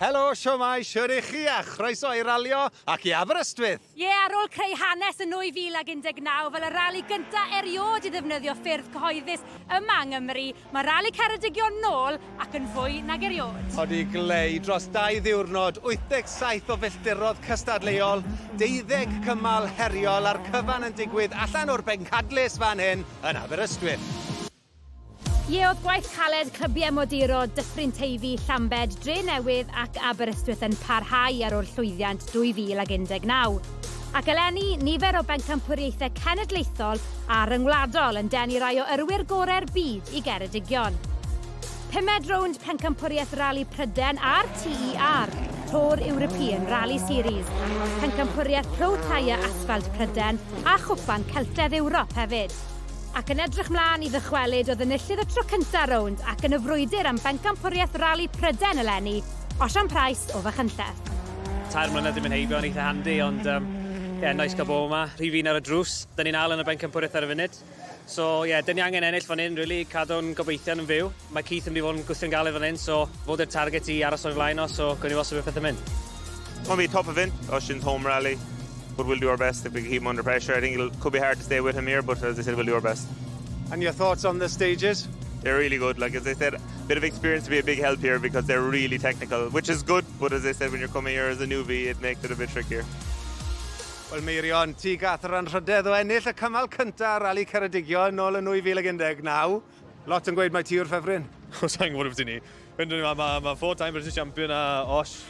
Helo, siomai, siwr i chi a chroeso i ralio ac i Aberystwyth! Ie, ar ôl creu hanes yn 2019 fel y rali gyntaf erioed i ddefnyddio ffyrdd cyhoeddus yma yng Nghymru, Mae Rali Ceredigion nôl ac yn fwy nag eriôd. Wedi gleu dros dau ddiwrnod, 87 o filltirodd cystadleuol, deuddeg cymal heriol a'r cyfan yn digwydd allan o'r Bencadlys fan hyn yn Aberystwyth. Ie, oedd gwaith caled clybiau moduro Dyffryn Teifi, Llambed, Drenewydd ac Aberystwyth yn parhau ar ôl llwyddiant 2019. ac eleni nifer o bencampwriaethau cenedlaethol a rhyngwladol yn denu rai o yrwyr gorau'r byd i Geredigion. Pumed rownd Pencampwriaeth Rali Pryden a'r TER, Tour European Rally Series, Pencampwriaeth Pro Tyre Asphalt Pryden a Chwpan Celtedd Ewrop hefyd ac yn edrych mlaen i ddychwelyd oedd enillydd y tro cyntaf rownd ac yn y frwydr am bencampwriaeth rali Pryden eleni, Osian Price o Fachynlleth. Tair mlynedd dim yn heibio yn eitha handi, ond um, yeah, nice gael bod yma. Rhi fi'n ar y drws. Dyn ni'n al yn y bencampwriaeth ar y funud. So, ie, yeah, dyn ni angen ennill fan hyn, really, cadw'n gobeithio yn fyw. Mae Keith yn mynd i fod yn gwthio'n galed fan hyn, so fod i'r target i aros o'r flaen o, so gwni ni wastad beth pethau'n mynd. Mae'n fi top of hyn, os yn home rally, but we'll do our best if we keep him under pressure. I think it could be hard to stay with him here, but as I said, we'll do our best. And your thoughts on the stages? They're really good. Like as I said, a bit of experience to be a big help here because they're really technical, which is good But as they said, when you're coming here as a newbie, it makes it a bit trickier. Wel, Meirion, ti gath yr anrhydedd o ennill y cymal cyntaf ar Rali Ceredigion nôl yn 2019. Lot yn gweud mae ti yw'r ffefryn. O, sa'n gwybod beth i ni. Fynd yn yma, mae ma four time British champion a Osh.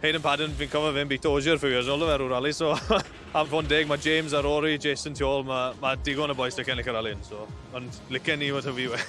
Hayden Padden, fi'n cofio fe'n bit Ozier few years old ofer o'r rali, so am fod yn deg, mae James a Rory, Jason tu ôl, mae ma digon o boys da cennill y rali, so ond licen ni fod hyfu we.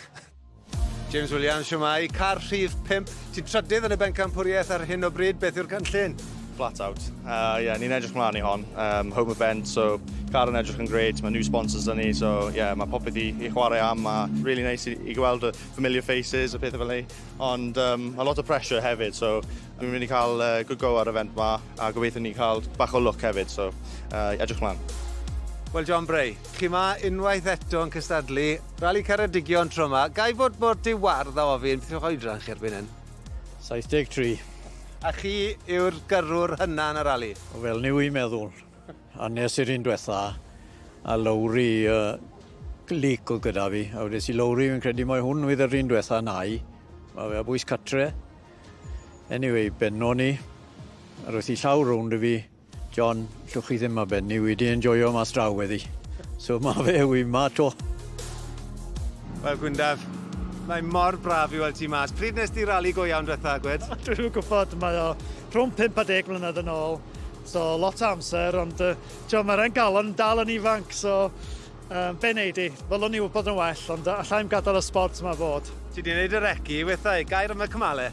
James Williams, siwmai. Car rhif 5. Ti'n trydydd yn y bencampwriaeth ar hyn o bryd. Beth yw'r cynllun? Flat out. Uh, yeah, ni'n edrych mlaen i hon. Um, home event, so car yn edrych yn great. Mae new sponsors dyn ni, so yeah, mae popeth i, i chwarae am. Mae really nice i, i gweld y familiar faces a pethau fel ei. Ond um, a lot o pressure hefyd, so dwi'n mynd i cael uh, good go ar y event ma a gobeithio ni'n cael bach o look hefyd, so uh, edrych mlaen. Wel, John Bray, Chi 'ma unwaith eto yn cystadlu. Rali Ceredigion tro 'ma. Ga i fod mor di-wardd a ofyn beth yw'ch oedran chi erbyn hyn? 73. A chi yw'r gyrrwr hynna yn y rali? Fel ni wy'n meddwl. A nes i'r un dwetha, a Lowri yy Leek o'dd gyda fi, a wedes i Lowri fi'n credu mai hwn fydd yr un dwetha nai. Ma' fe a bwys catre. Anyway, benno ni, a roedd hi llaw rownd i fi, John, llwch chi ddim ar ben ni, wi 'di enjoio mas draw weddi. So ma fe, wi 'ma 'to. Wel Gwyndaf, mae mor braf i weld ti mas. Pryd nes di rali go iawn dwetha, Gwed? Dwi'n gwybod, mae o rhwng 5 a 10 mlynedd yn ôl, so lot o amser, ond uh, ti'n mae'r engalon yn dal yn ifanc, so um, be wneud i? Fel o'n i wybod yn well, ond allai'n gadael y sport yma fod. Ti di wneud yr eci, wethau, gair am y cymale?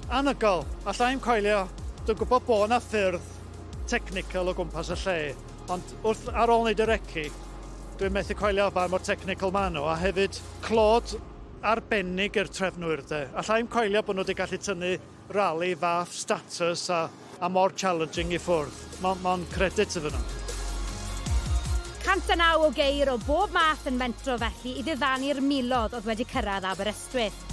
Anhygoel! Alla i'm coelio, dwi'n gwybod bod 'na ffyrdd technical o gwmpas y lle, ond wrth, ar ôl wneud y reci, dwi'n methu coelio faint mor technical maen nhw, a hefyd clod arbennig i'r trefnwyr 'de. Alla i'm coelio bod nhw 'di gallu tynnu rali fath status a a mor challenging i ffwrdd. Mo mond credit iddyn nhw. 109 o geir o bob math yn mentro felly i ddiddanu'r milodd oedd wedi cyrraedd Aberystwyth.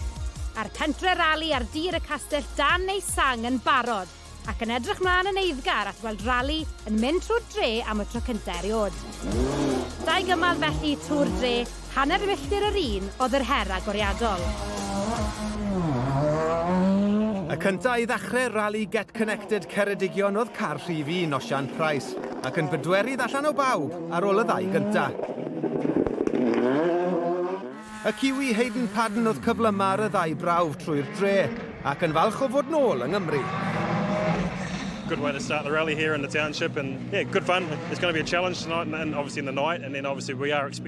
A'r pentre rali ar dir y castell dan ei sang yn barod ac yn edrych mlaen yn eiddgar at weld rali yn mynd trwy'r dre am y tro cynta' eriod. Dau gymal felly Tŵr Dre Hanner milltir yr un oedd yr her agoriadol. Y cynta i ddachre Rali Get Connected Ceredigion oedd car rhif un Osian Price, ac yn bedwerydd allan o bawb ar ôl y ddau gynta. Y Kiwi Hayden Paddon oedd cyflyma ar y ddau brawf trwy'r dre, ac yn falch o fod nôl yng Nghymru. good way to start the rally here in the township. And yeah, good fun. It's going to be a challenge tonight and, and obviously in the night. And then obviously we are expecting.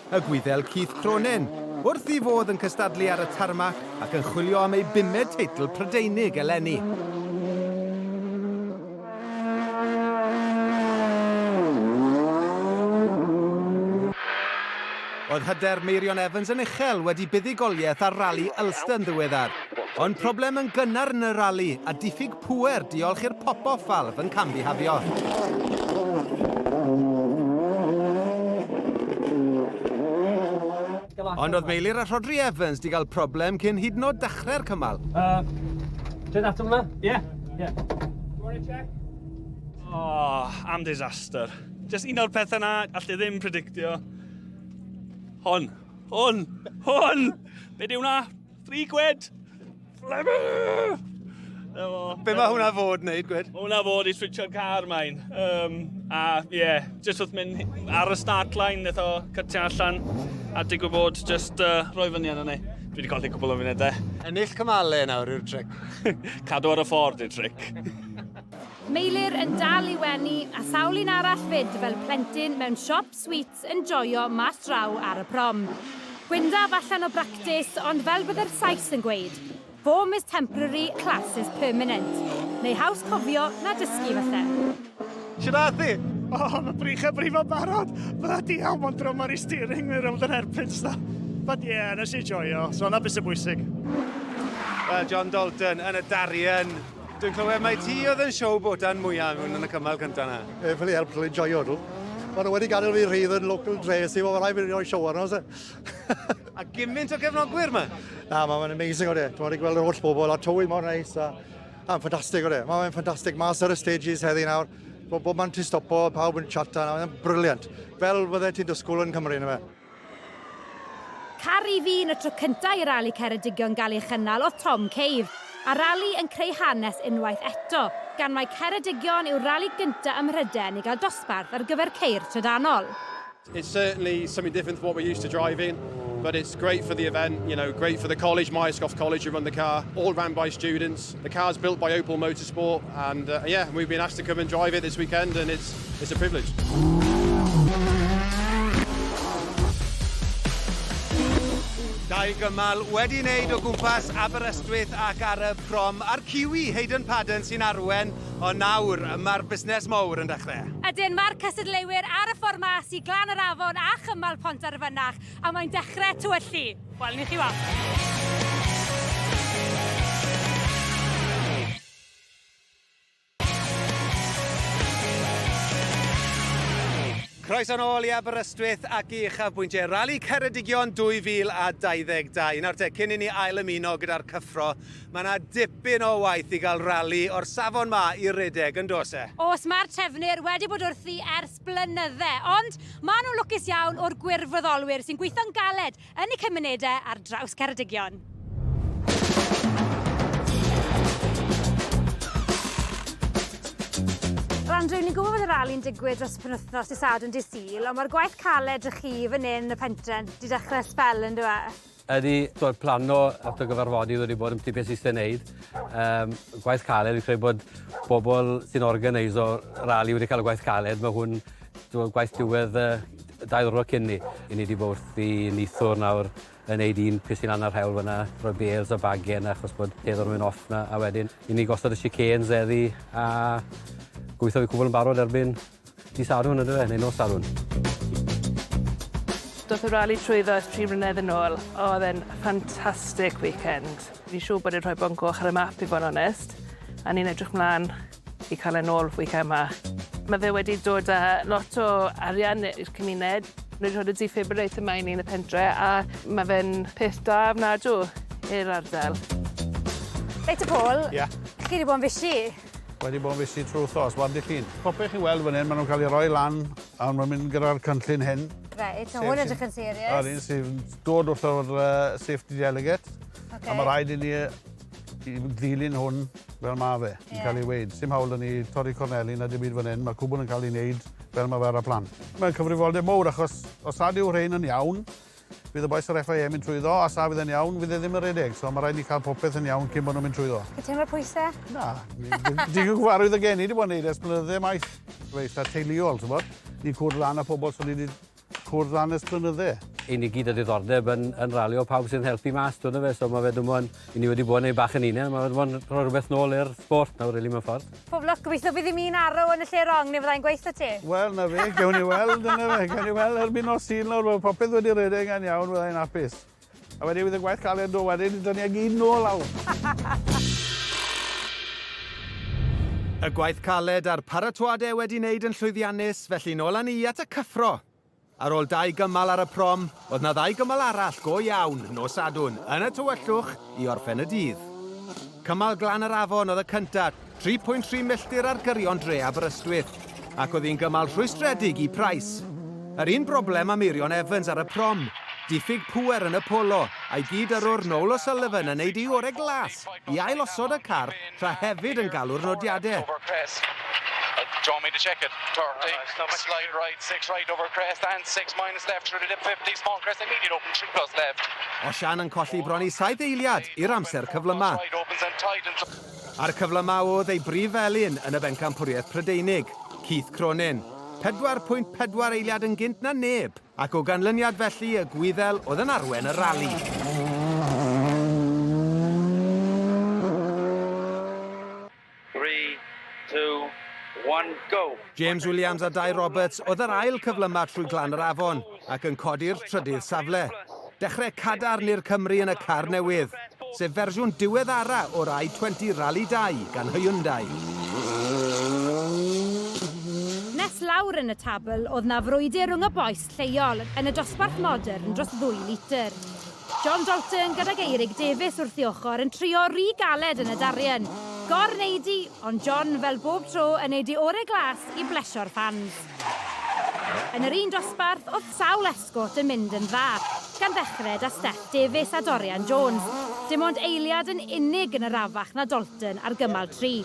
y Gwyddel Keith Cronin, wrth i fodd yn cystadlu ar y tarmac ac yn chwilio am ei bumed teitl Prydeinig eleni. Oedd hyder Meirion Evans yn uchel wedi buddugoliaeth ar Rali Ulster yn ddiweddar. Ond problem yn gynnar yn y rali a diffyg Pŵer, diolch i'r pop-off valve yn cam-bihafio. Ond oedd Meilir a Rhodri Evans di gael problem cyn hyd yn oed dechrau'r cymal. Uh, Dyn ato hwnna? Ie. Yeah. Yeah. You want to check? Oh, am disaster. Just un o'r pethau na, allai ddim predictio. Hon. Hon. Hon! Be di hwnna? Free gwed! Fleming! Be mae hwnna fod wneud, gwed? Mae hwnna fod i switch o'n car main. Um, a ie, yeah, jyst wrth mynd ar y start line, neith o cytio allan. A digwydd bod, jyst uh, rhoi fyny yna ni. Dwi wedi colli cwbl o funudau. Ennill cymale nawr yw'r tric. Cadw ar y ffordd yw'r tric. Meilir yn dal i wenu a sawl un arall fyd fel plentyn mewn siop sweet Let's enjoio mas draw ar y prom. Gwyndaf allan o bractis, ond fel bydde'r Sais yn gweud, Form is temporary, class is permanent. Neu haws cofio na dysgu, falle. Shwd ath hi? O, mae brych a brifo barod! Bloody hell, mae'n drum ar ei steering wheel rownd yr hairpins na. But yeah, nes i joio, so na beth sy'n bwysig. Wel, John Dalton yn y darian. Dwi'n clywed mai ti oedd yn siow bodan mwyaf yn hwn yn y cymal cyntaf na. Ef yn ei help cael ei joio nhw. Mae nhw wedi gadael fi rhydd yn local dress i fod rhaid fi roi siow arno. a gymaint o gefnogwyr yma? Na, mae'n amazing o de. Dwi'n wedi gweld yr holl bobl a tywydd mor neis. A, a ffantastig o de. Mae'n ffantastig mas ar y stages heddi nawr. Bob man ti'n stopo, pawb yn chat a mae'n briliant. Fel fydde ti'n dysgwyl yn Cymru, na fe? Caru fi yn y tro cyntaf i Rali Ceredigion gael ei chynnal oedd Tom Cave, a'r rali yn creu hanes unwaith eto, gan mai Ceredigion yw'r rali gyntaf ym Mhrydain i gael dosbarth ar gyfer ceir trydanol. It's certainly something different to what we're used to driving, but it's great for the event, you know, great for the college, Myerscough College who run the car, all ran by students. The car's built by Opel Motorsport and uh, yeah, we've been asked to come and drive it this weekend and it's, it's a privilege. Dau gymal wedi wneud o gwmpas Aberystwyth ac ar y prom a'r Kiwi Hayden Padden sy'n arwen, o nawr mae'r busnes mowr yn dechrau. Ydyn, mae'r cystadleuwyr ar y ffordd mas i Glan yr Afon a chymal Pont ar y Fynach, a mae'n dechrau tywyllu. Wel, ni chi Croeso nôl i Aberystwyth ac i uchafbwyntiau Rali Ceredigion 2022. Nawr te, cyn i ni ail ymuno gyda'r cyffro, mae yna dipyn o waith i gael rali o'r safon ma i redeg, yn dos e? Os mae'r trefnwyr wedi bod wrthi ers dros blynydde, ond maen nhw'n lwcus iawn o'r gwirfoddolwyr sy'n gweithio'n galed yn y cymunedau ar draws Ceredigion. Andrew, ni'n gwybod bod y rali'n digwydd dros y penwthnos i Sadwrn di Sul, ond mae'r gwaith caled ych chi fan hyn yn y pentren, di dechrau spel yn dweud? Ydy, so plano at y gyfarfodydd wedi bod yn ti beth sydd eisiau gwneud. Um, gwaith caled, fi'n credu bod bobl sy'n organiso rali wedi cael y gwaith caled. Mae hwn gwaith diwedd uh, dau ddwrnod cyn ni. I ni wedi bod wrth i nithwr nawr yn neud un peth sy'n anna'r hewl fyna, rhoi bales a bagen achos bod peth o'n mynd off na, a wedyn i ni gosod y chicanes eddi a gweithio fi cwbl yn barod erbyn Dydd Sadwrn yndyfe, neu nos Sadwrn. Doth y rali trwyddo ers tri mlynedd yn ôl, oedd e'n fantastic weekend. Fi'n siŵr bod e'n rhoi Bont Goch ar y map i fod yn onest, a ni'n edrych mlan i cael e'n ôl weekend ma. Mae fe wedi dod â lot o arian i'r cymuned. Nhw wedi rhoi y defibrillator ma i ni yn y pentre a mae fe'n peth da ofnadw i'r ardal. Reit te Paul. Ia? Chi wedi bod yn fishi. Wedi bod yn fisit trwy wthos, wan dych chi'n. Popeth chi'n weld fan hyn, maen nhw'n cael ei roi lan, a maen mynd gyda'r cynllun hyn. Reit, so hwn ydych yn serious. Yr un sy'n dod wrth o'r uh, safety delegate. Okay. A mae rhaid i ni i ddilyn hwn fel mae fe, yn yeah. cael ei weid. Sim hawl yn ni torri corneli na dim byd fan hyn, mae cwbl yn cael ei wneud fel mae fe ar y plan. Mae'n cyfrifoldeb mowr achos os nad yw rhain yn iawn, Bydd y bois o'r FIM yn trwyddo, a sa fydd e'n iawn, fydd e ddim yn rhedeg, so mae rhaid ni cael popeth yn iawn cyn bod nhw'n mynd trwyddo. Ti'n teimlo pwyse? Na. Digon cyfarwydd y gen i 'di bod yn neud e ers blynydde maith. Mae eitha teuluol, t'mod? Ni'n cwrdd lan â pobl so ni 'di cwrdd lan ers blynydde. I ni gyd â diddordeb yn yn ralio pawb sy'n helpu mas, t'wod on'd yfe? So ma' fe dim on' 'yn ni wedi bod yn neud bach yn 'unan, ma' fe dim on' rhoi rwbeth nôl i'r sport nawr rili mewn ffordd. Pob lwc, gobeithio bydd dim un arrow yn y lle rong neu fyddai'n gweith da ti. Wel, na fe, gewn ni weld, dyna fe, gewn ni weld erbyn nos Sul nawr, mae popeth wedi rhedeg yn iawn, fyddai'n hapus. A wedyn fydd y gwaith caled do, wedyn ni dynu ag un nôl lawr. Y gwaith caled a'r paratoade wedi wneud yn llwyddiannus, felly nôl â ni at y cyffro. Ar ôl dau gymal ar y prom, oedd 'na ddau gymal arall go iawn nos Sadwrn yn y tywyllwch i orffen y dydd. Cymal Glan yr Afon oedd y cynta, 3.3 milltir ar gyrion dre Aberystwyth, ac oedd hi'n gymal rhwystredig i Price. Yr un broblem â Meirion Evans ar y prom, diffyg pŵer yn y polo, a'i gyd-yrrwr Noel O'Sullivan yn neud ei ore glas i ail-osod y car Tra hefyd yn galw'r nodiadau. Do you want me to check it? Turn, take, no, slide right, six right over crest and six minus left through the dip 50, small crest immediate open, three plus left. Osian yn colli bron i saith eiliad i'r amser cyflymau. A'r cyflymau oedd ei brif felin yn y bencampwriaeth Prydeinig, Keith Cronin. 4.4 eiliad yn gynt na neb. Ac o ganlyniad felly y Gwyddel oedd yn arwen y rali. James Williams a Dai Roberts oedd yr ail cyflyma trwy Glan yr Afon ac yn codi'r trydydd safle. Dechrau cadarn i'r Cymry yn y car newydd, sef fersiwn diweddara o'r i20 Rally 2 gan Hyundai. Nes lawr yn y tabl o'dd 'na frwydr rhwng y bois lleol yn y dosbarth modern dros ddwy litr. John Dalton gydag Eirig Davies wrth ei ochr yn trio ry galed yn y darian. Gor neud i, ond John fel bob tro yn neud ei ore glas i blesio'r ffans. Yn yr un dosbarth o'dd sawl Ascot yn mynd yn dda, gan ddechred a Steff Davies a Dorian Jones. Dim ond eiliad yn unig yn arafach na Dalton ar gymal tri.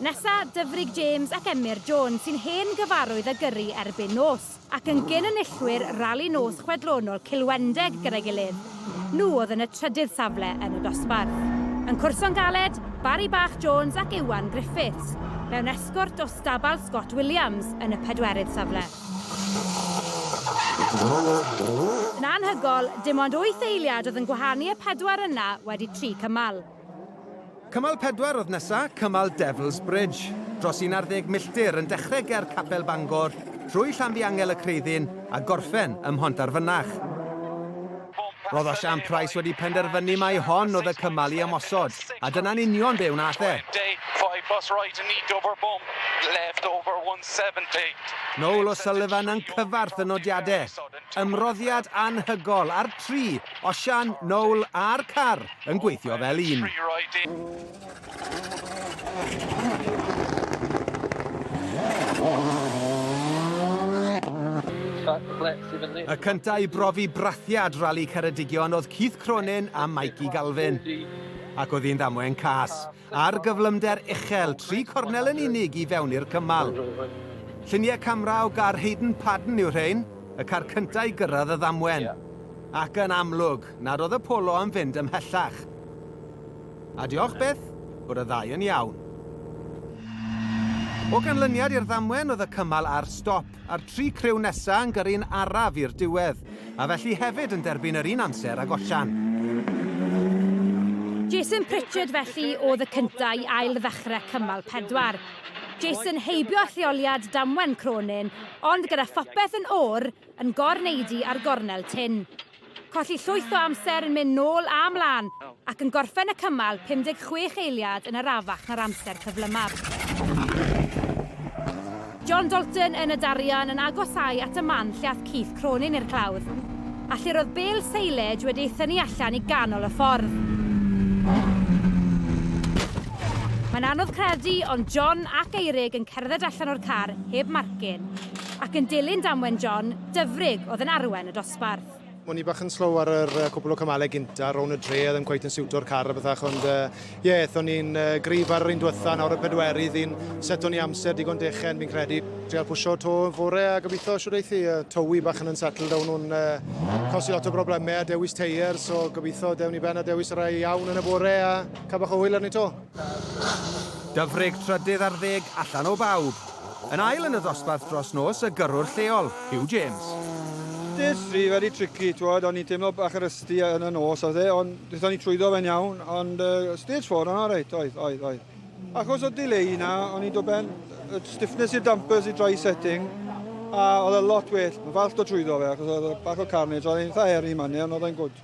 Nesa, Dyfrig James ac Emyr Jones sy'n hen gyfarwydd a gyrru erbyn nos, ac yn gyn enillwyr rali nos chwedlonol Cilwendeg gyda'i gilydd, nhw oedd yn y trydydd safle yn y dosbarth. Yn cwrso'n galed, Barry Bach Jones ac Iwan Griffiths, mewn esgort o stabal Scott Williams, yn y pedwerydd safle. Yn anhygoel, dim ond wyth eiliad oedd yn gwahanu y pedwar yna wedi tri cymal. Cymal pedwar oedd nesa, cymal Devils Bridge. Dros un ar ddeg milltir yn dechrau ger Capel Bangor, trwy Llanfihangel y Creuddyn a gorffen ym Mhontarfynach. Roedd Osian Price wedi penderfynu mai hon oedd y cymal i ymosod, a dyna'n union be wnaeth e. Noel O'Sullivan yn cyfarth y nodiadau. Ymroddiad anhygol ar tri, Osian, Noel a'r car yn gweithio fel un. Y cyntaf i brofi brathiad Rali Ceredigion oedd Keith Cronin a Mikey Galvin. Ac oedd hi'n ddamwain cas, a'r gyflymder uchel, tri cornel yn unig i fewn i'r cymal. Lluniau camera o gar Hayden Padden yw rhain, y car cyntaf i gyrraedd y ddamwen. Ac yn amlwg, nad oedd y polo am fynd ymhellach. A diolch, Beth. Bore dda yn iawn. O ganlyniad i'r ddamwen oedd y cymal ar stop, a'r tri criw nesa yn gyrru'n araf i'r diwedd, a felly hefyd yn derbyn yr un amser ag Osian. Jason Pritchard felly oedd y cyntaf i ail ddechrau cymal pedwar. Jason heibio lleoliad damwen Cronin, ond gyda phopeth yn or, yn gor-neidi ar gornel tyn. Colli llwyth o amser yn mynd nôl a mlaen ac yn gorffen y cymal 56 eiliad yn arafach na'r amser cyflymaf. John Dalton yn y darian yn agosáu at y man lle ath Keith Cronin i'r clawdd, a lle'r oedd bêl seilage wedi ei thynnu allan i ganol y ffordd. Mae'n anodd credu, ond John ac Eirig yn cerdded allan o'r car heb marcyn, ac yn dilyn damwen John, dyfrig oedd yn arwen y dosbarth. dosbarth. O'n i bach yn slow ar yr uh, cwpl o cymalau gynta, rown y dre, oedd yn cweith yn siwto'r car a bethach, ond ie, uh, yeah, o'n i'n uh, grif ar yr un diwetha, nawr y pedwerydd, un set o'n i amser digon dechen, fi'n credu. Treal pwysio to yn fore a gobeithio siwr eithi, uh, tywi bach yn unsettled, dawn nhw'n uh, cosi lot o broblemau a dewis teir, so gobeithio dewn i ben a dewis y rai iawn yn y bore a cael bach o hwyl arni to. Dyfrig trydydd ar ddeg allan o bawb. Yn ail yn y ddosbarth dros nos y gyrrwr lleol, Huw James. Dydd fri wedi tricky, twod, o'n i'n teimlo bach yn rusty yn y nos oedd e, ond ddython ni trwyddo fe'n iawn, ond uh, stage 4 o'n alright, oedd, oedd, oedd. Achos o delay na, o'n i'n dod ben y stiffness i'r dampers i dry setting, a oedd e lot well, mae falch dod trwyddo fe, achos oedd e bach o carnage, oedd e'n eitha heri manne, ond oedd e'n gwrdd.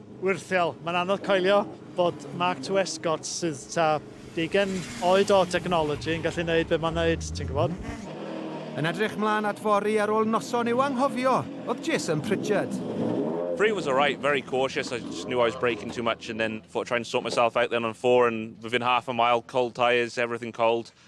Wyrthiol, mae'n anodd coelio bod Mark II Escort sydd tua deugain oed o technology yn gallu neud be mae'n neud, ti'n gwybod? Yn edrych mlan at fory ar ôl noson i'w anghofio oedd Jason Pritchard. Three was alright, very cautious, I just knew I was braking too much and then thought I'd try and sort myself out then on four and within half a mile, cold tyres, everything cold.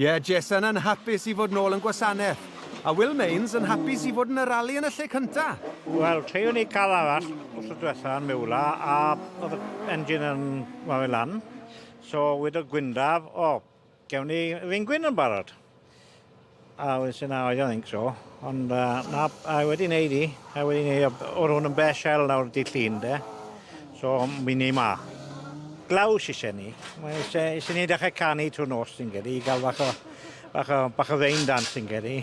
Ie, Jason yn hapus i fod nôl yn gwasanaeth. A Will Mains yn hapus i fod yn y rali yn y lle cynta. Wel, tri unig car arall wrth y diwetha yn miwla a oedd y engine yn wario lan. So, wedodd Gwyndaf, o, gewn ni ringwyn yn barod. A wedyn sy'n a oedd yn inc, so. Ond yy na a wedi neud 'i a wedi neu' o b- o' rwn yn bell hel nawr dydd Llun 'de so mi ni 'ma. Glaw sy isie 'ny. Mae isie isie ni dechre canu trw'r nos fi'n credu i ga'l bach o bach o bach o rain dance fi'n credu.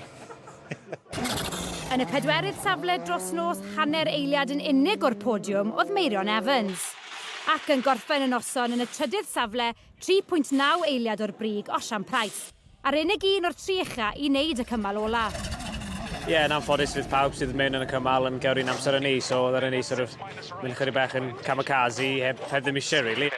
Yn y pedwerydd safle dros nos hanner eiliad yn unig o'r podiwm o'dd Meirion Evans. Ac yn gorffen y noson yn y trydydd safle 3.9 eiliad o'r brig Osian Price. A'r unig un o'r tri ucha i wneud y cymal ola. Ie, yn anffodus fydd pawb sydd mewn yn y cymal yn cael un amser â ni, so oedd e'n neis sort of mynd ychydig bach yn kamikaze heb, heb ddim eisiau really.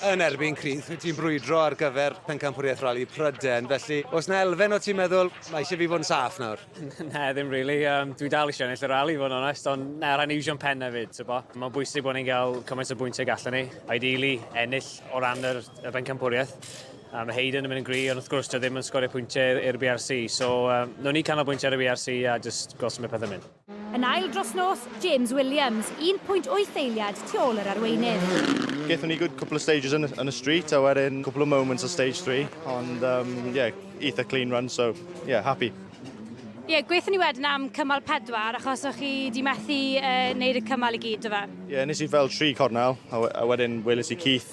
Yn erbyn Crith, wyt ti'n brwydro ar gyfer Pencampwriaeth Rali Pryden, felly os na elfen o ti'n meddwl, mae eisiau fi fod yn saff nawr? Na, ddim really. Um, dwi dal eisiau ennill y rali, fod yn onest, ond na, rhaid ni iwsio'n pen hefyd, so bo. Mae'n bwysig bod ni'n cael cymaint o bwyntiau gallen ni, ideally ennill o ran yr, y bencampwriaeth. A mae Hayden yn mynd yn gry, ond wrth gwrs, dio ddim yn sgorio pwyntiau i'r BRC. So, um, nhw'n ni canolbwyntio ar y BRC a just gweld sy'n mynd pethau mynd. Yn ail dros nos, James Williams, 1.8 eiliad tu ôl yr arweinydd. Gaethon ni good couple of stages yn, yn y street, a wedyn couple of moments o stage 3, ond um, yeah, eitha clean run, so yeah, happy. Ie, yeah, gweithio ni wedyn am cymal pedwar, achos o'ch chi di methu uh, wneud y cymal i gyd, do fe? Ie, yeah, nes i fel tri cornel, a, a wedyn weles i Keith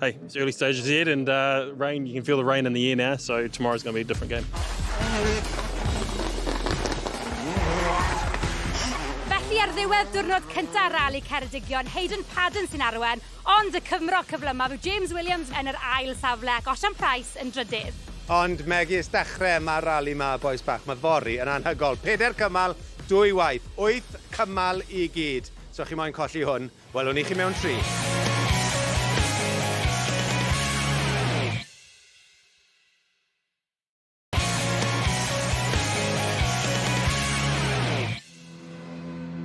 Hey, it's early stages yet, and uh, rain, you can feel the rain in the air now, so tomorrow's going to be a different game. Felly ar ddiwedd diwrnod cyntaf rali Ceredigion, Hayden Padden sy'n arwen, ond y cyfmro cyflyma fu James Williams yn yr ail safle ac Osian Price yn drydydd. Ond megis dechrau mae'r rali yma, boes bach, mae fori yn anhygol. Peder cymal, dwy waith, wyth cymal i gyd. So chi moyn colli hwn, Welwn ni chi mewn tri.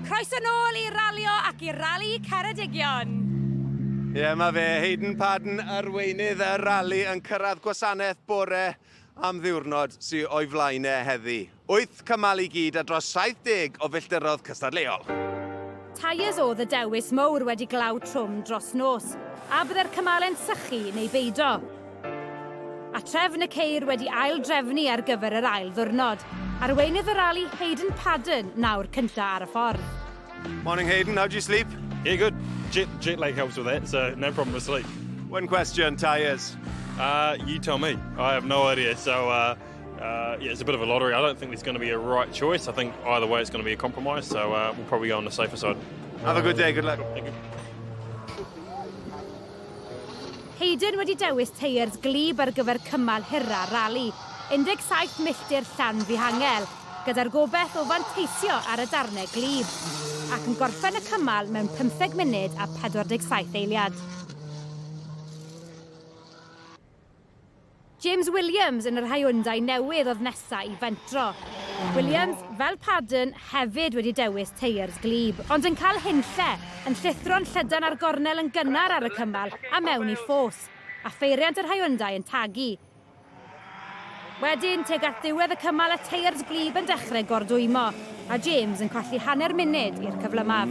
Croeso nôl i ralio ac i rali Ceredigion. Ie, yeah, mae fe, Hayden Padden, arweinydd y rali yn cyrraedd gwasanaeth bore am ddiwrnod sy'n o'i flaen e heddi. Wyth cymal i gyd a dros 70 o filltirodd cystadleuol. Tyres oedd y dewis mowr wedi glaw trwm dros nos, a bydde'r cymale'n sychu neu beido. A trefn y ceir wedi ail drefnu ar gyfer yr ail ddwrnod. Arweinydd y rali, Hayden Paddon, nawr cynta ar y ffordd. Morning Hayden, how do you sleep? Yeah, good. Jet, jet lag helps with that, so no problem with sleep. One question, tyres. Uh, you tell me. I have no idea, so uh, Uh, yeah, it's a bit of a lottery. I don't think there's going to be a right choice. I think either way it's going to be a compromise, so uh, we'll probably go on the safer side. Have a good day, good luck. Thank you. Hayden wedi dewis teiers glib ar gyfer cymal hyrra rali, 17 milltir llan fihangel, gyda'r gobeith o fanteisio ar y darnau glib, ac yn gorffen y cymal mewn 15 munud a 47 eiliad. James Williams yn yr Hyundai newydd oedd nesa i fentro. Williams, fel Paddon, hefyd wedi dewis teiers glib, ond yn cael hunlle, yn llithro'n llydan ar gornel yn gynnar ar y cymal a mewn i ffos, a pheiriant yr Hyundai yn tagu. Wedyn, tuag at ddiwedd y cymal y teiers glib yn dechrau gordwymo, a James yn colli hanner munud i'r cyflymaf.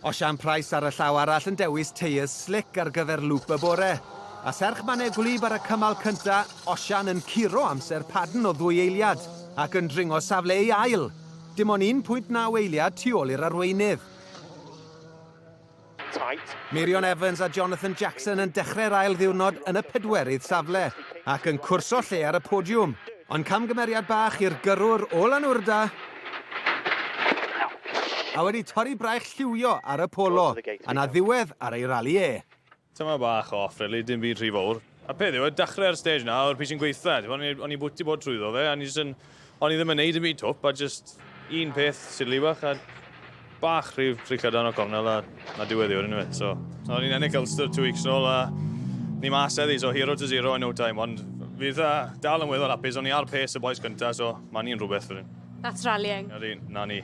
O Sian Price ar y llaw arall yn dewis teiers slic ar gyfer lŵp y bore. A serch mannau gwlyb ar y cymal cynta, Osian yn curo amser Paddon o ddwy eiliad ac yn dringo safle ei ail. Dim ond 1.9 eiliad tu ôl i'r arweinydd. Meirion Evans a Jonathan Jackson yn dechrau'r ail ddiwrnod yn y pedwerydd safle ac yn cwrso lle ar y podiwm. Ond camgymeriad bach i'r gyrrwr Olan Urda A wedi torri braich lliwio ar y Polo, a 'na ddiwedd ar ei rali e. Tyma bach o off really, dim byd rhy fowr. A peth yw, y dachre ar stage 'na o'r pryd sy'n gweitha, t'bo o'n i o'n i bwti bod trwyddo fe a o'n i jyst yn o'n i ddim yn neud dim byd twp a jyst un peth silly bach a Bach rhyw fricio dan o cornel a na diwedd i wedyn fe. So, so ni'n ennill Ulster two weeks nôl a ni mas eddi, so hero to zero in no time, ond fydd uh, dal yn weddol apus, o'n i ar pace y boes gyntaf, so mae ni'n rhywbeth wedyn. That's rallying. Ydy, na ni.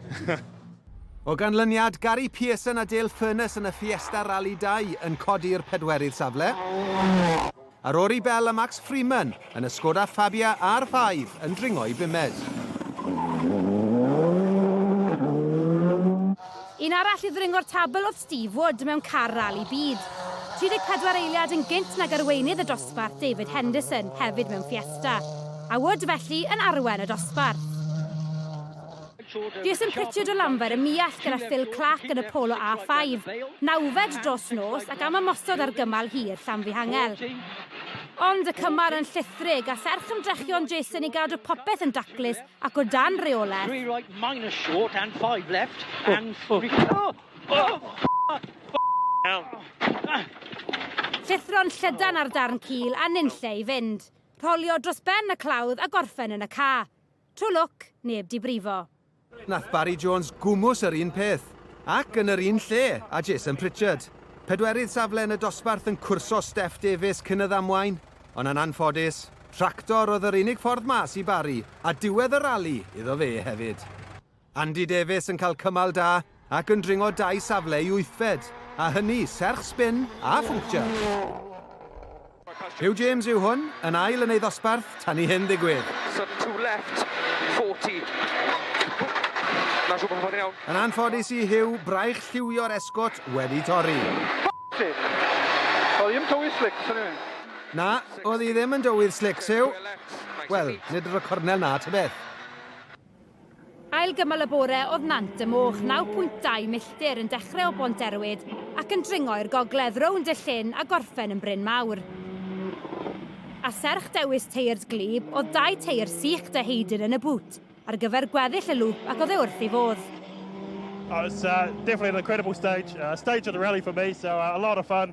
O ganlyniad, Gary Pearson a Dale Furness yn y Fiesta Rally 2 yn codi'r pedwerydd safle. A Rory Bell a Max Freeman yn y Skoda Fabia R5 yn dringo i bumed. Un arall i ddringo'r tabl oedd Steve Wood mewn car rali byd. 34 eiliad yn gynt nag arweinydd y dosbarth David Henderson hefyd mewn Fiesta. A Wood felly yn arwen y dosbarth. Des yn ffitio do Lanfair y Muallt gyda Phil Clarke yn y Polo A5, nawfed dros nos ac am ymosod ar gymal hir Llanfihangel. Ond y cymal yn llithrig a serch ymdrechion Jason i gadw popeth yn daclus ac o dan reolaeth. Three right minus short and five left oh, and oh. three... Oh! Oh! Llithro'n llydan ar darn cul a nunlle i fynd. Rholio dros ben y clawdd a gorffen yn y ca. Tro lwc, neb 'di brifo. Nath Barry Jones gwmws yr un peth, ac yn yr un lle a Jason Pritchard. Pedwerydd safle yn y dosbarth yn cwrso Steff Davies cyn y ddamwain, ond yn anffodus, tractor oedd yr unig ffordd mas i Barry, a diwedd y rali iddo fe hefyd. Andy Davies yn cael cymal da ac yn dringo dau safle i wythfed, a hynny serch sbin a phuncture. Huw James yw hwn, yn ail yn ei ddosbarth tan i hyn ddigwydd. Sun to left, 40. Na siŵr bod hwn yn iawn. Yn anffodus i Huw, braich lliwio'r esgot wedi torri. Oedd hi'n tywydd slics yn ei. Na, oedd hi ddim yn dywydd slics, Huw. Wel, nid yr y cornel na, tybeth. Ail gymal y bore oedd Nant y Moch, 9.2 milltir, yn dechrau o Bont Erwyd ac yn dringo i'r gogledd rownd y llyn a gorffen yn Bryn Mawr. A serch dewis teirs gwlyb, oedd dau teir sych De Heidyn yn y bŵt ar gyfer gweddill y lŵp ac oedd e wrth ei fodd. Oh, it's uh, definitely an incredible stage, uh, stage of the rally for me, so uh, a lot of fun.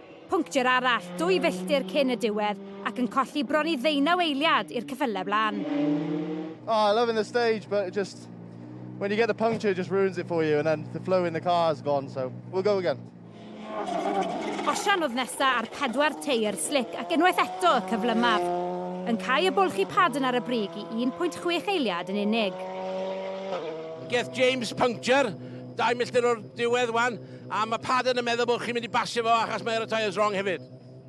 Punctiwr arall, dwy filltir cyn y diwedd, ac yn colli bron i ddeunaw eiliad i'r cyffyle blaen. Oh, I loving the stage, but it just when you get the puncture, it just ruins it for you, and then the flow in the car is gone, so we'll go again. Osian oedd nesa ar pedwar teir slic ac unwaith eto y cyflymaf. Yn cael y bwlch i pad yn ar y brig i 1.6 eiliad yn unig. Geth James puncture, dau milltir o'r diwedd wan, A mae Paddon yn meddwl bod chi'n mynd i basio fo achos mae ar y tyres wrong hefyd.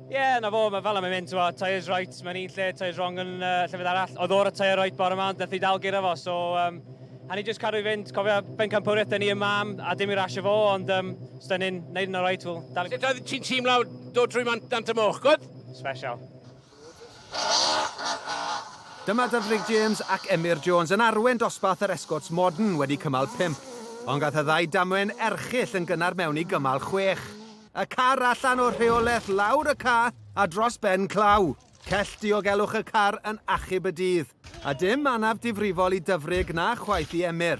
Ie, yeah, na fo, mae fel am yn mynd, ti'n tyres right, mae'n un lle, tyres wrong yn uh, llefydd arall. Oedd o'r y tyre right bore yma, ond nath i dal gyda fo, so... Um, a ni jyst cadw i fynd, cofio bencampwriaeth dyn ni yma am, a dim i rasio fo, ond um, os dyn ni'n neud yn o'r right, wel... Dal... Sut oedd ti'n teimlo dod trwy man dant y moch, gwyd? Special. Dyma Dyfrig James ac Emyr Jones yn arwen dosbarth yr Escorts Modern wedi cymal pump, ond gath y ddau damwain erchyll yn gynnar mewn i gymal chwech. Y car allan o rheolaeth lawr y ca a dros ben claw. Cell diogelwch y car yn achub y dydd, a dim anaf difrifol i Dyfrig na chwaith i Emyr.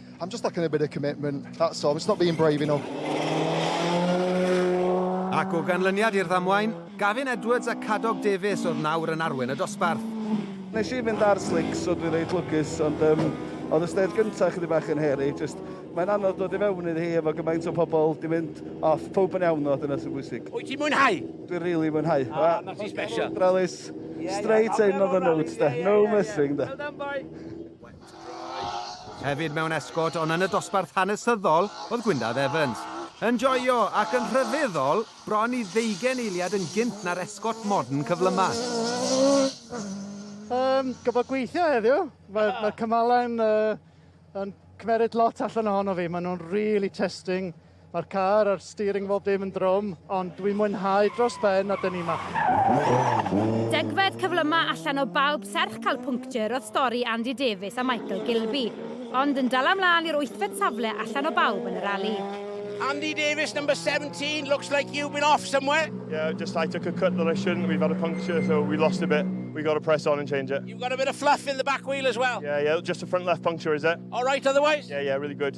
I'm just lacking a bit of commitment, that's all, it's not being brave enough. Ac o ganlyniad i'r ddamwain, Gavin Edwards a Cadog Davies oedd nawr yn arwen y dosbarth. Nes i fynd ar slics, so dwi'n reit lwcus, ond um, oedd y stêd gyntaf chydig bach yn heri. Just, mae'n anodd dod i fewn iddi hi efo gymaint o pobl di mynd off. Pob yn iawn o, dyna sy'n bwysig. Wyt ti'n mwynhau? Dwi'n rili really mwynhau. Ah, ah, ti'n special. Rallis, straight in on the notes, da. No missing, da. Hefyd mewn esgôt ond yn y dosbarth hanesyddol oedd Gwyndaf Evans. Yn joio ac yn rhyfeddol, bron i ddeugain eiliad yn gynt na'r esgôt modern cyflyma. Um, Gofod gweithio heddiw. Mae'r yeah. mae cymala'n uh, yn cymeryd lot allan ohono fi. Maen nhw'n really testing Mae'r car a'r steering bob dim yn drwm, ond dwi'n mwynhau dros ben a dyn ni ma. Degfed cyflyma allan o bawb serch cael puncture oedd stori Andy Davies a Michael Gilby, ond yn dala mlaen i'r wythfed safle allan o bawb yn y rali. Andy Davies, number 17, looks like you've been off somewhere. Yeah, just I took a cut that I shouldn't. We've had a puncture, so we lost a bit. We got to press on and change it. You've got a bit of fluff in the back wheel as well. Yeah, yeah, just a front left puncture, is it? All right otherwise? Yeah, yeah, really good.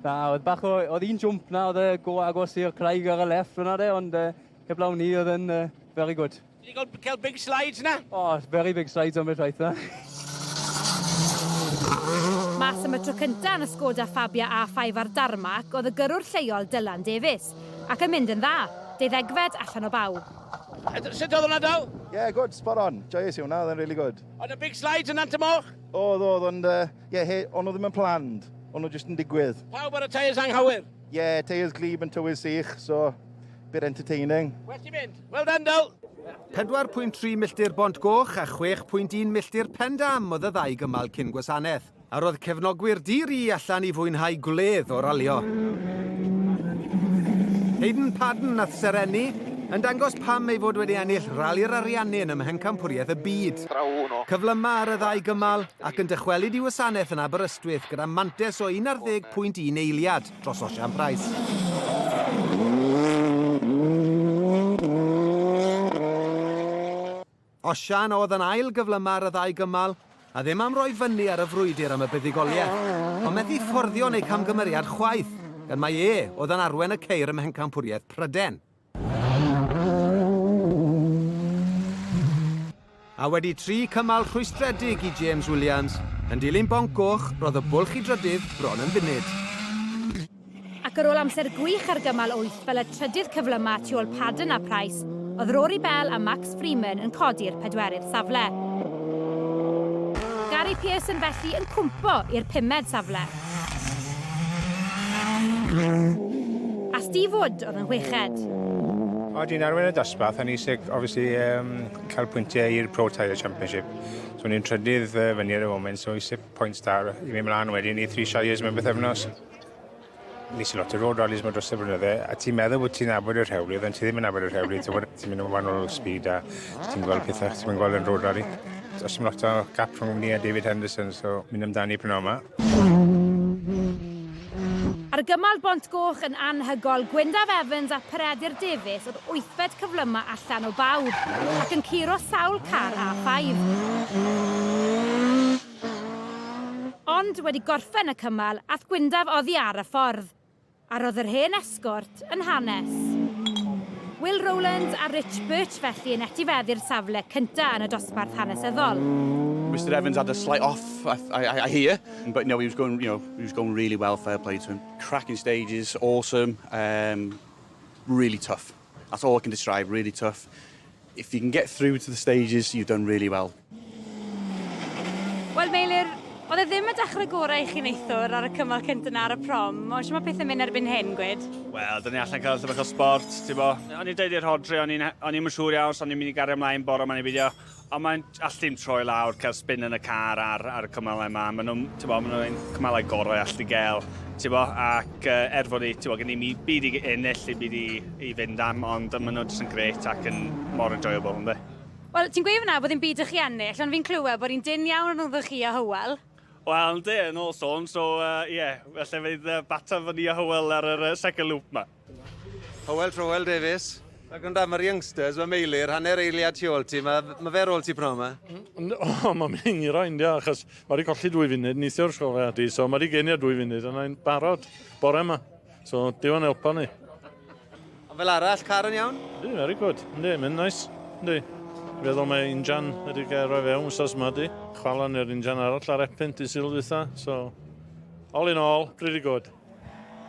Na, oedd bach o... oedd un jwmp na, oedd e go agos i'r craig ar y left fyna de, ond uh, heblaw ni oedd yn uh, very good. Ti wedi cael big slides na? Oh, very big slides on beth rhaid na. Mas am y tro cyntaf yn y Skoda Fabia A5 ar Darmac oedd y gyrrwr lleol Dylan Davies, ac yn mynd yn dda, deuddegfed allan o bawb. Sut oedd hwnna daw? Yeah, good, spot on. Joyous i hwnna, oedd yn really good. Oedd y big slides yn ant y moch? Oedd, oedd, ond uh, Ie, he, o'n nhw ddim yn planned, o'n nhw jyst yn digwydd. Pawb ar y tyres anghywir? Ie, yeah, tyres glib yn tywydd sych, so bit entertaining. Well ti'n mynd. Well done, Dyl! 4.3 milltir Bont Goch a 6.1 milltir Pen Dam oedd y ddau gymal cyn gwasanaeth. A roedd cefnogwyr dir i allan i fwynhau gwledd o ralio. Hayden Padden a Serenni yn dangos pam ei fod wedi ennill rali'r ariannu yn ymhencampwriaeth y byd. Cyflymau ar y ddau gymal, ac yn dychwelyd i wasanaeth yn Aberystwyth gyda mantais o 11.1 eiliad dros Osian Price. Osian oedd yn ail gyflymaf ar y ddau gymal, a ddim am roi fyny ar y frwydr am y buddugoliaeth, ond methu fforddio yn eu camgymeriad chwaith, gan mai e oedd yn arwen y ceir ym Mhencampwriaeth Pryden. A wedi tri cymal rhwystredig i James Williams, yn dilyn bonc goch, roedd y bwlch i drydydd bron yn funud. Ac ar ôl amser gwych ar gymal wyth fel y trydydd cyflyma tu ôl Paddon a Price, oedd Rory Bell a Max Freeman yn codi'r pedwerydd safle. Gary Pearson felly yn cwmpo i'r pumed safle. A Steve Wood oedd yn chweched. Oedd hi'n arwain y dosbarth a ni eisiau obviously um, cael pwyntiau i'r Pro Tyre Championship. So ni'n trydydd uh, fyny ar y foment, so eisiau pwynt da i mi mlaen wedyn i Three Shires mewn beth efnos. Nes i lot o road rallies mae dros y blynydde, a ti'n meddwl bod ti'n abod yr rhewlydd, ond ti ddim yn abod yr rhewlydd, ti'n mynd yn wahanol speed a ti'n gweld pethau, ti'n mynd gweld yn road rally. Os ti'n lot o gap rhwng ni a David Henderson, so mynd amdani prynawn yma. Argymell Bont Goch yn anhygoel, Gwyndaf Evans a Peredur Davies oedd wythfed cyflymau allan o bawb, ac yn curo sawl car A5. Ond, wedi gorffen y cymal, ath Gwyndaf oddi ar y ffordd. A roedd yr hen esgort yn hanes. Will Rowlands a Rich Birch felly yn etifeddu'r safle cyntaf yn y dosbarth hanesyddol. Mister Evans had a slight off, I, I, I hear, but no, he was going, you know, he was going really well. Fair play to him. Cracking stages, awesome, um, really tough. That's all I can describe, really tough. If you can get through to the stages, you've done really well. Wel, Meilir, oedd e ddim y dechrau gorau i chi neithwr ar y cymal cynt yna ar y prom. O, sy'n mae pethau mynd erbyn hyn, gwed? Wel, dyn ni allan cael llyfr o sport, ti'n bo. O'n i'n dweud i'r hodri, o'n i'n siŵr iawn, so o'n i'n mynd i gario ymlaen bore ma'n i fideo. Ond mae'n allu dim troi lawr, cael spin yn y car ar, ar y cymalau yma. Maen nhw'n, ti'n bo, maen nhw'n cymalau gorau allu gael, ti'n bo, ac uh, er fod ni, ti'n bo, gen i mi byd i ennill, i byd i, i fynd am, ond maen nhw'n just yn gret ac yn mor enjoyable, ynddo. Wel, ti'n gweud fyna bod hi'n byd i chi ennill, ond fi'n clywed bod hi'n dyn iawn rhwngddo chi a Hywel. Wel, ynddi, yn ôl sôn, so, ie, uh, yeah, felly fydd uh, bata fy ni a Hywel ar yr uh, second loop ma. Hywel Trowel Davies. Ac ond am yr youngsters, mae Meilir, hanner eiliad tu ôl ti, mae, mae fe rôl ti pnawn yma? Mm, o, oh, mae'n mynd i'n gyrra, india, achos mae wedi colli dwy funud, neithio'r sgoriad i, so mae wedi genio dwy funud, yna i'n barod bore yma. So, diwan elpa ni. Ond fel arall, car yn iawn? Di, very good. Yndi, mae'n nice. Yndi. Feddwl mae injan wedi gael rhoi fewn wsos yma di. Chwalon i'r injan arall ar epyn di sylw dwytha, so... All in all, pretty good.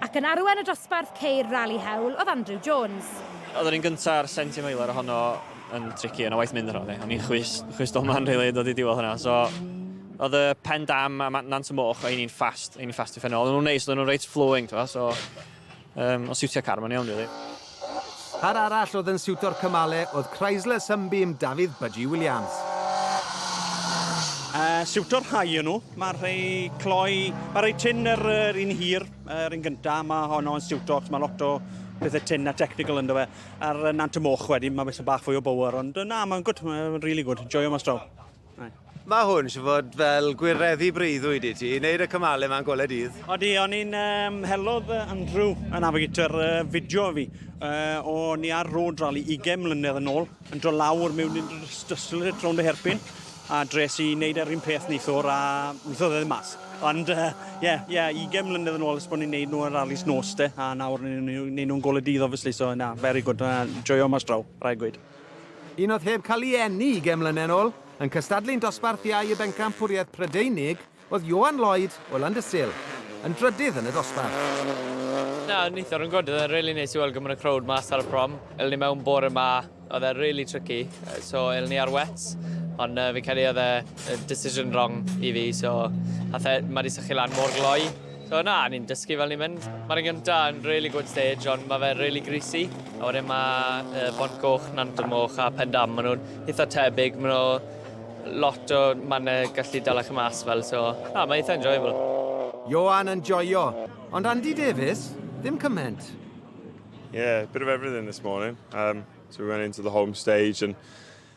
Ac yn arwain y dosbarth ceir Rali Hewl oedd Andrew Jones. Oedd yr un gyntaf ar Senti Meiler ohono yn tricky, yna waith mynd yno. O'n i'n chwys, chwys doman rili yn dod i diwedd hwnna. So, oedd y pen dam a nant y moch, oedd ni'n ffast, oedd ni'n ffast i ffenol. Oedd nhw'n neis, oedd nhw'n reit flowing, so um, o siwtio car, mae'n iawn rili. Really. Car arall oedd yn siwto'r cymale oedd Chrysler Sunbeam Dafydd Budgie Williams. Uh, siwto'r rhai yn nhw. Mae'r rhai cloi, mae'r rhai tin yr, yr un hir, yr un gyntaf, mae honno yn siwto, achos mae lot o pethau tin a technical ynddo fe. A'r Nant y Moch wedyn, mae beth bach fwy o bower, ond na, mae'n gwyd, mae'n really gwyd, joio mas draw. Mae hwn eisiau fod fel gwireddu breuddwyd i ti, i wneud y cymalau yma'n gole dydd. Odi, o'n i'n um, helodd Andrew, y navigator, uh, fideo fi. Uh, o'n i ar road rally 20 mlynedd yn ôl, yn dro lawr mewn i'n dyslyd rownd y herpyn, a dres i wneud yr un peth neithwr a weithodd e ddim mas. Ond, ie, uh, yeah, yeah, 20 mlynedd yn ôl ys bod ni'n neud nhw yn rallies nos de, a nawr ni'n neud nhw'n gole dydd, obviously, so na, very good, uh, joio mas draw, rhaid gweud. Un oedd heb cael ei eni ugain mlynedd yn ôl, yn cystadlu'n dosbarth iau y bencampwriaeth Prydeinig, oedd Johan Lloyd o Landysul, yn drydydd yn y dosbarth. Na, yn eitha rhwyngod, oedd e'n rili neis i weld gymaint o crowd mas ar y prom. Elon ni mewn bore ma, oedd e rili tricky, so elon ni ar wets, ond yy fi'n credu oedd e yy decision wrong i fi, so ath e, ma di sychu lan mor gloi. So na, ni'n dysgu fel ni'n mynd. Mae'r un gyntaf yn really good stage, ond mae fe really greasy. A wedyn mae Bont Goch, Nant y Moch a Pen Dam, maen nhw'n eitha tebyg, maen nhw lot o mannau gallu dala chi mas fel, so na, mae eitha enjoyable. Ioan yn joio, ond Andy Davies, ddim cyment. Yeah, a bit of everything this morning. Um, so we went into the home stage and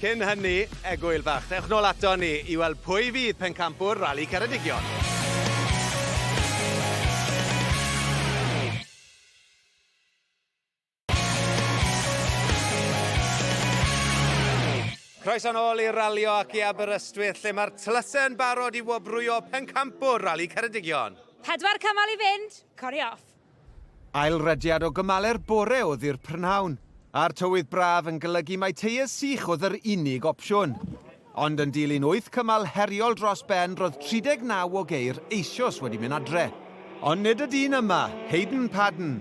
Cyn hynny, Egwyl Fach. Dewch nôl aton ni i weld pwy fydd pencampwr Rali Ceredigion. Croeso nôl i'r ralio ac i Aberystwyth lle mae'r tlysau yn barod i wobrwyo pencampwr Rali Ceredigion. Pedwar cymal i fynd, cori off! Ail rediad o gymale'r bore o ddi'r prynhawn, a'r tywydd braf yn golygu mai teiars sych oedd yr unig opsiwn. Ond yn dilyn wyth cymal heriol dros ben roedd 39 o geir eisoes wedi mynd adre. Ond nid y dyn yma, Hayden Paddon,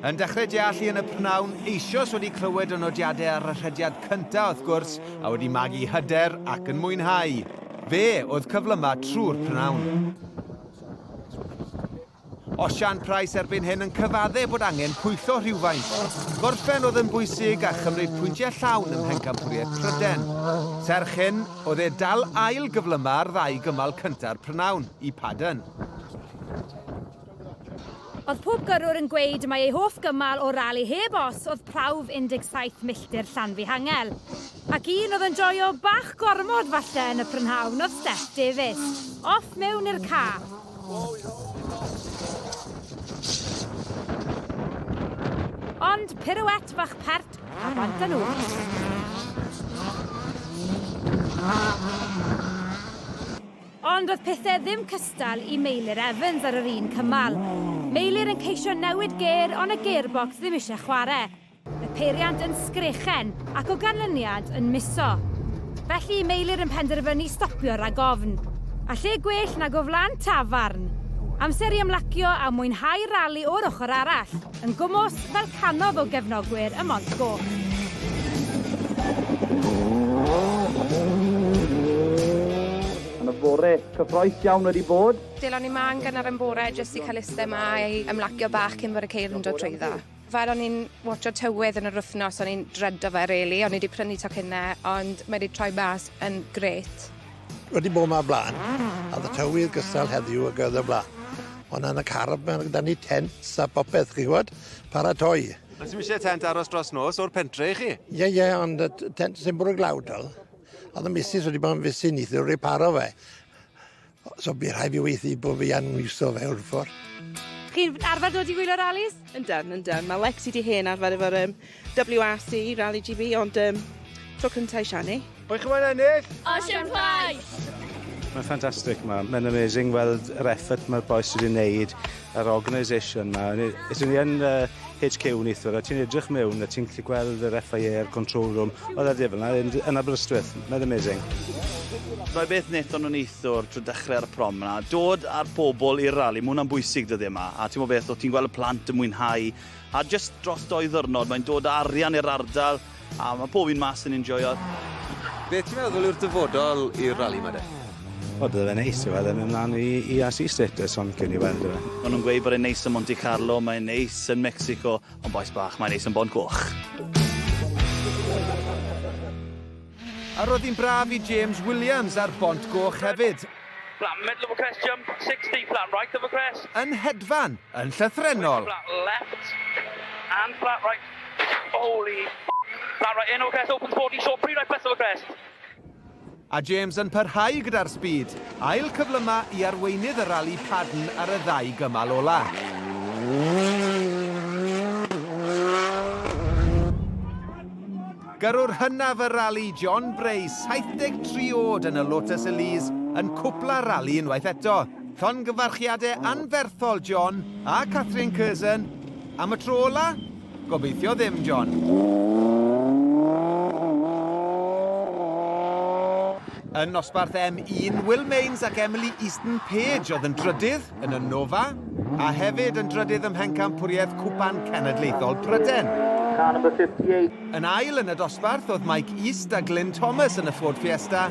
yn dechrau deallu yn y prynhawn, eisoes wedi clywed y nodiadau ar y rhediad cyntaf wrth gwrs, a wedi magu hyder ac yn mwynhau. Fe oedd cyflymaf trwy'r prynhawn. Osian Price erbyn hyn yn cyfadde bod angen pwyllo rhywfaint. Gorffen oedd yn bwysig a chymryd pwyntiau llawn ym mhencampwriaeth Pryden. Serch hyn, oedd e dal ail gyflyma ar ddau gymal cynta'r prynawn, i Paddon. Oedd pob gyrrwr yn gweud mai ei hoff gymal o'r rali heb os oedd prawf 17 milltir Llanfihangel. Ac un oedd yn joio bach gormod falle yn y prynhawn oedd Steph Davies. Off mewn i'r ca. Ond pirouette fach pert a bant â nhw. Ond oedd pethau ddim cystal i Meilir Evans ar yr un cymal. Meilir yn ceisio newid gêr ond y gearbox ddim eisiau chwarae. Y peiriant yn sgrechen ac o ganlyniad yn miso. Felly y meilir yn penderfynu stopio rhag ofn. A lle gwell nag o flan tafarn? Amser i ymlacio a mwynhau'r rali o'r ochr arall, yn gwmws fel cannoedd o gefnogwyr y Mont Goch. Yn y fore, cyffroes iawn wedi bod. Delon ni 'ma yn gynnar yn bore jyst i cael iste 'ma i ymlacio bach cyn bod y ceir yn dod trwyddo. Fel o'n i'n watsio tywydd yn yr wythnos o'n i'n dredo fe rili o'n i 'di prynu tocynne ond mae 'di troi mas yn grêt. Wedi bo' 'ma o bla'n a o'dd y tywydd gystal heddiw ag o'dd o bla'n. O' 'na yn y car ma' ma' 'da ni tents a popeth chi wbod paratoi. Os ti'm isie tent aros dros nos o'r pentre i chi. Ie ie ond y t- tent sy'n bwrw glaw 'di o. O'dd y misys wedi bo' yn fisu nithiwr reparo fe. So bydd rhaid fi weithio bod fi yn iwso fe o'r ffordd. Chi'n arfer dod i wylio rallies? Yndan, yndan. Mae Lexi di hen arfer efo'r um, WRC, Rally GB, ond um, tro cyntaf i Shani. Pwy chi'n mwyn ennill? Ocean Prize! Mae'n ffantastig, mae'n amazing weld yr effort mae'r boes wedi wneud yr organisation 'ma. O'n i... Os o'n i yn yy HQ neithwr a ti'n edrych mewn a ti'n gallu gweld yr FIA a'r control room o'dd e fel 'na yn d- yn Aberystwyth. Mae'n amazing. Rhai beth nethon nw neithwr trw dechre ar y prom 'na, dod a'r pobol i'r rali, ma' wnna'n bwysig dyddie 'ma, a t'mo' beth, o' ti'n gweld y plant yn mwynhau, a jyst dros dou ddyrnod mae'n dod â arian i'r ardal, A mae pob un mas yn enjoio. Beth ti'n meddwl yw'r dyfodol i'r rali ma de? Wel bydde fe'n neis i weld e mynd mlan i i RC status ond gewn ni weld yfe. Ma nhw'n gweud bod e'n neis ym Monte Carlo, mae'n neis yn Mexico, ond bois bach, mae'n neis yn Bont Coch. A roedd hi'n braf i James Williams ar Bont Goch hefyd. Flat middle of a crest jump, 60, flat right of a crest. Yn hedfan, yn llythrennol. Flat left and flat right. Holy ffck! That right, Eno Crest opens 14 short, pre right Pessil Crest. A James yn parhau gyda'r sbîd. Ail cyflyma i arweinydd y rali Paddon ar y ddau gymal ola. Gyrrwr hynaf y rali, John Bray, 73 oed yn y Lotus Elise, yn cwpla'r rali unwaith eto. Llongyfarchiadau anferthol, John, a Kathryn Curzon, Am y tro ola? Gobeithio ddim, John. Yn nosbarth M1, Will Mains ac Emily Easton Page oedd yn drydydd yn y Nova, a hefyd yn drydydd ym Mhencampwriaeth Cwpan Cenedlaethol Pryden. Yn ail yn y dosbarth oedd Mike East a Glyn Thomas yn y Ford Fiesta,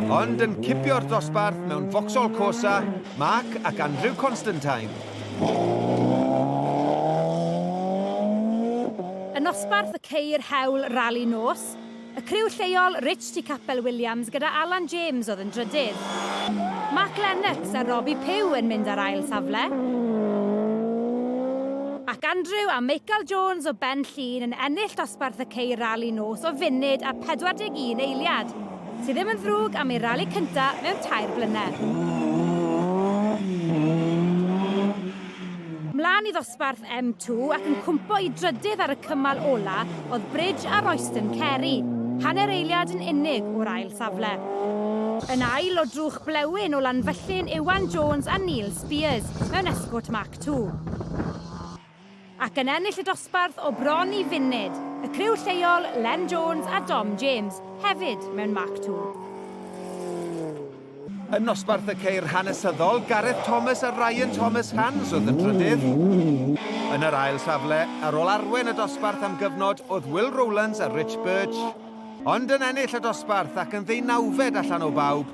ond yn cipio'r dosbarth mewn Vauxhall Corsa, Mark ac Andrew Constantine. Yn nosbarth y ceir hewl rali nos, y criw lleol Rich tu Capel Williams gyda Alan James oedd yn drydydd. Mark Lennox a Robbie Pugh yn mynd ar ail safle, ac Andrew a Michael Jones o Ben Llŷn yn ennill dosbarth y ceir rali nos o funud a 41 eiliad. Sydd ddim yn ddrwg am ei rali cynta mewn tair blynedd. Mlaen i ddosbarth M2 ac yn cwmpo i drydydd ar y cymal ola oedd Bridge a Royston Carey, hanner eiliad yn unig o'r ail safle. Yn ail o drwch blewyn o Lanfyllin Iwan Jones a Neil Spiers mewn Escort Mark 2. ac yn ennill y dosbarth o bron i funud, y criw lleol, Len Jones a Dom James, hefyd mewn Mark Two. Yn nosbarth y ceir hanesyddol, Gareth Thomas a Ryan Thomas Hands oedd yn trydydd. Yn yr ail safle, ar ôl arwen y dosbarth am gyfnod, oedd Will Rowlands a Rich Birch, ond yn ennill y dosbarth ac yn ddeunawfed allan o bawb,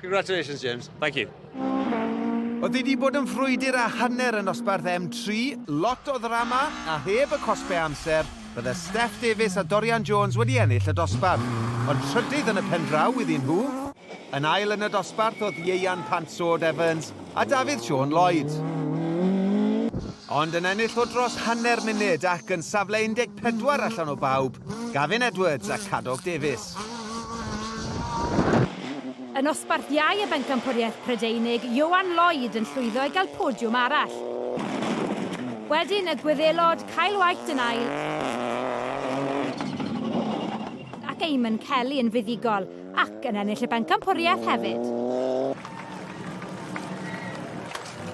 Congratulations James. Thank you. Oedd hi 'di bod yn frwydr a hanner yn nosbarth M3, lot o ddrama a heb y cosbau amser, bydde Steph Davies a Dorian Jones wedi ennill y dosbarth. Ond trydydd yn y pendraw iddyn nhw. Yn ail yn y dosbarth oedd Ieuan Pant Sword Evans a Dafydd Siôn Lloyd. Ond yn ennill o dros hanner munud ac yn safle 14 allan o bawb, Gavin Edwards a Cadog Davies. Yn osbarthiau y bencampwriaeth Prydeinig, Ioan Lloyd yn llwyddo i gael podiwm arall. Wedyn y Gwyddelod, Kyle White yn ail, ac Eamonn Kelly yn fuddugol, ac yn ennill y bencampwriaeth hefyd.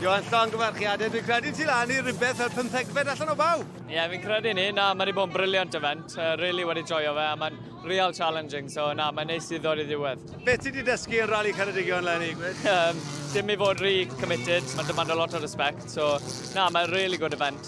Johan, llongyfarchiadau. Dwi'n credu ti lan i rhywbeth fel pymthegfed allan o bawb. Ie, yeah, fi'n credu ni. Na, mae wedi bod yn briliant event. Uh, really wedi joio fe, a mae'n real challenging, so na, mae'n neis i ddod i ddiwedd. Beth ti wedi dysgu yn rali Ceredigion, Lenny? um, dim i fod rhy committed, mae'n demand a lot o respect, so na, mae'n really good event.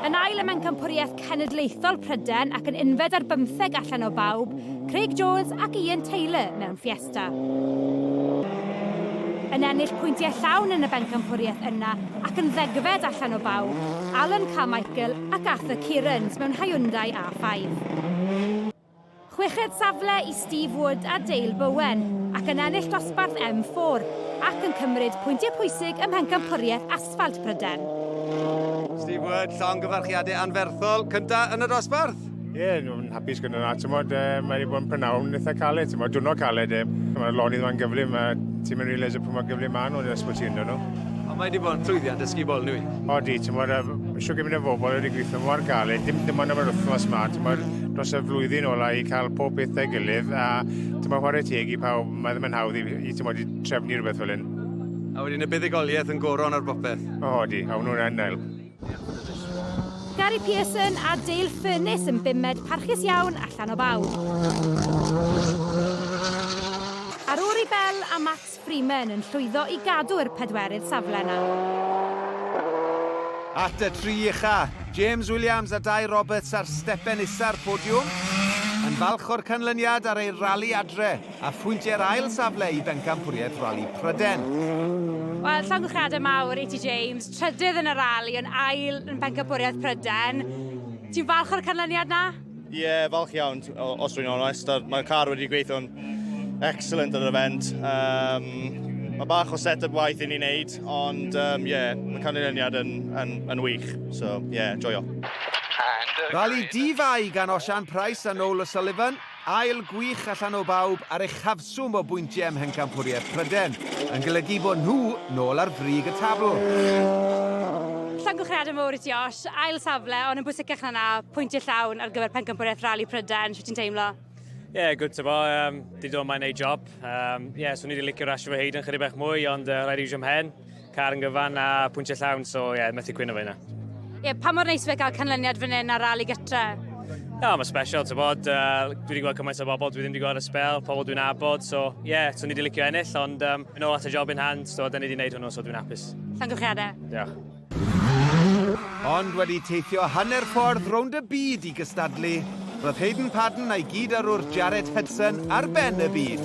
Yn ail ym Mhencampwriaeth Cenedlaethol Prydain ac yn unfed ar bymtheg allan o bawb, Craig Jones ac Ian Taylor mewn Fiesta. Yn ennill pwyntiau llawn yn y Bencampwriaeth yna ac yn ddegfed allan o bawb, Alan Carmichael ac Arthur Kearns mewn Hyundai A5. Chweched safle i Steve Wood a Dale Bowen, ac yn ennill dosbarth M4, ac yn cymryd pwyntiau pwysig ym Mhencampwriaeth Asffalt Prydain. Steve Wood, llongyfarchiadau anferthol, cyntaf yn y dosbarth! Ie, yeah, nhw'n hapus gyda hwnna. Tymod, e, mae wedi bod yn prynhawn eitha caled, tymod, dwrnod caled. E. Mae'r lonydd yma'n gyflym, a ti'n mynd i realisio pwy mor gyflym maen nhw yn yr ysbyty ynddo nhw. Ond mae wedi bod yn llwyddiant dysgu bol nwy. Odi, ti'n bod, eisiau gymryd y bobl wedi gweithio mor galed, dim dim ond am yr wythnos ma, ti'n bod, dros y flwyddyn ola i cael pob peth da gilydd, a ti'n bod, chwarae teg i pawb, mae ddim yn hawdd i, i ti'n bod, i trefnu rhywbeth fel hyn. A wedyn y buddugoliaeth yn goron ar bopeth. O, odi, a hwnnw'n yn help. Gary Pearson a Dale Furness yn bumed parchus iawn allan o bawb. Ar ôl i Bel a Matt Freeman yn llwyddo i gadw'r pedwerydd safle 'na. At y tri ucha', James Williams a Dai Roberts ar stepen isa'r podiwm, yn falch o'r canlyniad ar eu rali adre, a phwyntiau'r ail safle i Bencampwriaeth Rali Pryden. Wel, llongyfarchiadau mawr i ti James, trydydd yn y rali, ond ail yn Bencampwriaeth Pryden. Ti'n falch o'r canlyniad 'na? Ie, yeah, falch iawn, os dwi'n onest. Mae'r car wedi gweithio'n excellent ar yr event. Um, mae bach o set-up waith i ni wneud, ond um, yeah, mae canlyniad yn, yn, yn wych. So, yeah, joio. Rali di fai gan Osian Price a Noel O'Sullivan, ail gwych allan o bawb ar eich hafswm. Swm o bwyntiau ym Mhencampwriaeth Prydain yn golygu bod nhw nôl ar frig y tabl. Llongyfarchiadau mawr i ti Osh, ail safle ond yn bwysicach na 'na, pwyntiau llawn ar gyfer Pencampwriaeth Rali Prydain, shwt ti'n teimlo? Ie, good to bo, um, di dod yma i neud job. Um, ie, swn i wedi licio rasio fy hyd yn chydig bach mwy ond uh, rhaid i fi siwm hen. Car yn gyfan a pwyntiau llawn, so ie, yeah, methu cwyno fe yna. Ie, yeah, pa mor neis fe gael canlyniad fan hyn ar ral i gytre? Na, mae special, ti'n bod, uh, dwi wedi gweld cymaint o bobl, dwi ddim wedi gweld y spel, pobl dwi'n abod, so ie, yeah, so ni wedi licio ennill, ond um, yn ôl at y job in hand, so da ni wedi gwneud hwnnw, so dwi'n hapus. Llongyfchiadau. Diolch. Ond wedi teithio hanner ffordd rownd y byd i gystadlu, roedd Hayden Padden a'i gyd arwr Jared Hudson ar ben y byd.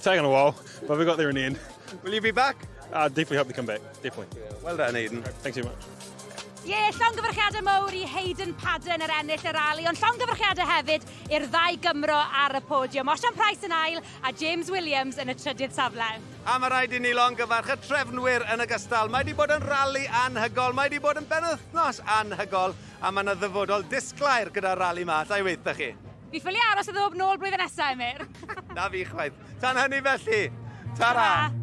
Taken a while, but we got there in the end. Will you be back? I'll definitely hope to come back, definitely. Yeah, well done, Hayden. Thanks so much. Ie, yeah, llongyfarchiadau mowr i Hayden Padden yr er ennill y rali, ond llongyfarchiadau hefyd i'r ddau Gymro ar y podiwm. Osian Price yn ail a James Williams yn y trydydd safle. A mae rhaid i ni longyfarch y trefnwyr yn y gystal. Mae wedi bod yn rali anhygol, mae wedi bod yn benwythnos anhygol, a mae yna ddyfodol disglair gyda'r rali ma, allai weithio chi. Fi ffili aros i ddod nôl blwyddyn nesa, Emyr! Na fi chwaith. Tan hynny felly, ta-ra! Ta-ra.